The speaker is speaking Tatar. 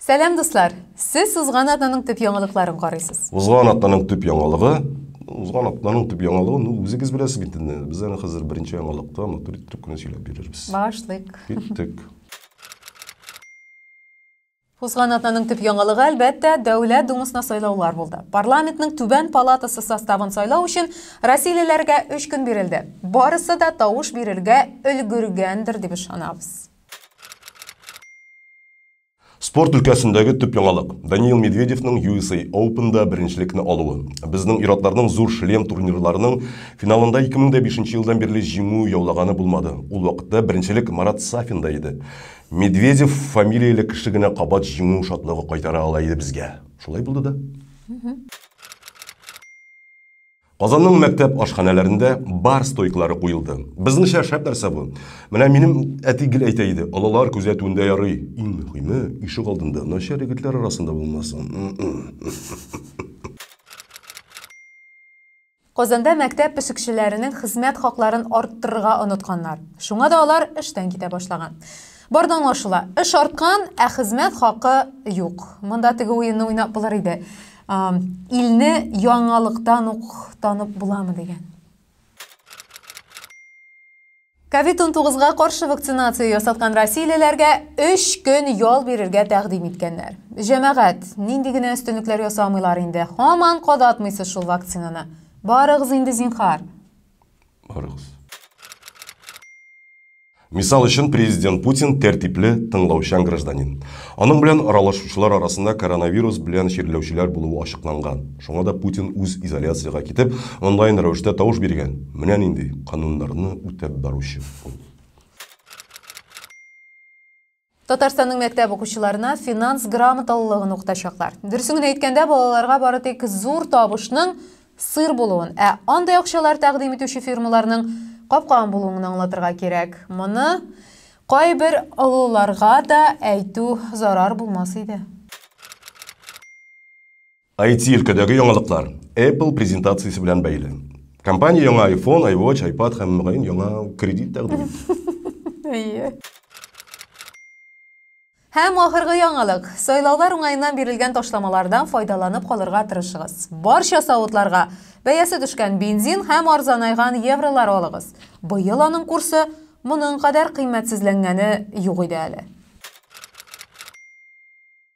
Сәлам дуслар! Сез узган атнаның төп яңалыкларын карыйсыз. Узган атнаның төп яңалыгы узган атнаның төп яңалыгы ну үзегез беләсез бит инде без аны хәзер беренче яңалыкта матур итеп кенә сөйләп бирербез башлыйк киттек Узган атнаның төп яңалыгы, әлбәттә, Дәүләт Думасына сайлаулар булды. Парламентның түбән палатасы составын сайлау өчен россиялеләргә өч көн бирелде. Барысы да тавыш бирергә өлгергәндер дип ышанабыз. Спорт өлкәсендәге төп яңалык, Даниил Медведевның USA Open-да беренчелекне алуы. Безнең ир-атларның зур шлем турнирларының финалында 2005 елдан бирле җиңү яулаганы булмады. Ул вакытта беренчелек Марат Сафинда иде. Медведев фамилияле кеше генә кабат җиңү шатлыгы кайтара ала иде безгә. Шулай булды да. Казанның мәктәп ашханәләрендә бар стойкалары куелды. Безнеңчә шәп нәрсә бу. Менә минем әти гел әйтә иде, олылар күзәтүендә ярый. Иң мөһиме, ишек алдында начар егетләр арасында булмасын. Казанда мәктәп пешекчеләренең хезмәт хакларын арттырырга онытканнар. Шуңа да алар эштән китә башлаган. Барда аңлашыла, эш арткан, ә хезмәт хакы юк. Монда теге уенны уйнап булыр иде. Илне яңалыктан ук танып буламы дигән. Ковид-19га каршы вакцинация ясаткан россиялеләргә 3 көн ял бирергә тәкъдим иткәннәр. Җәмәгать, нинди генә өстенлекләр ясамыйлар инде, һаман кадатмыйсыз шул вакцинаны. Барыгыз инде, зинхар. Барыгыз. Мисал өчен, президент Путин тәртипле, тыңлаучан гражданин. Аның белән аралашучылар арасында коронавирус белән чирләүчеләр булуы ачыкланган. Шуңа да Путин үз изоляциягә китеп, онлайн рәвештә тавыш биргән. Менә нинди кануннарны үтәп баручы ул. Татарстанның мәктәп укучыларына финанс грамоталылыгын укытачаклар. Дөресен генә әйткәндә, балаларга бары тик зур табышның сыр булуын, ә андый акчалар тәкъдим итүче фирмаларның капкаган булуын гына аңлатырга кирәк. Моны кайбер олыларга да әйтү зарар булмас иде. IT өлкәдәге яңалыклар Apple презентациясе белән бәйле. Компания яңа iPhone, iWatch, iPad һәм мөгаен яңа кредит тәкъдим Әйе. Һәм ахыргы яңалык. Сайлаулар уңаеннан бирелгән ташламалардан файдаланып калырга тырышыгыз. Барча савытларга бәясе төшкән бензин һәм арзанайган евролар алыгыз. Быел аның курсы моның кадәр кыйммәтсезләнгәне юк иде әле.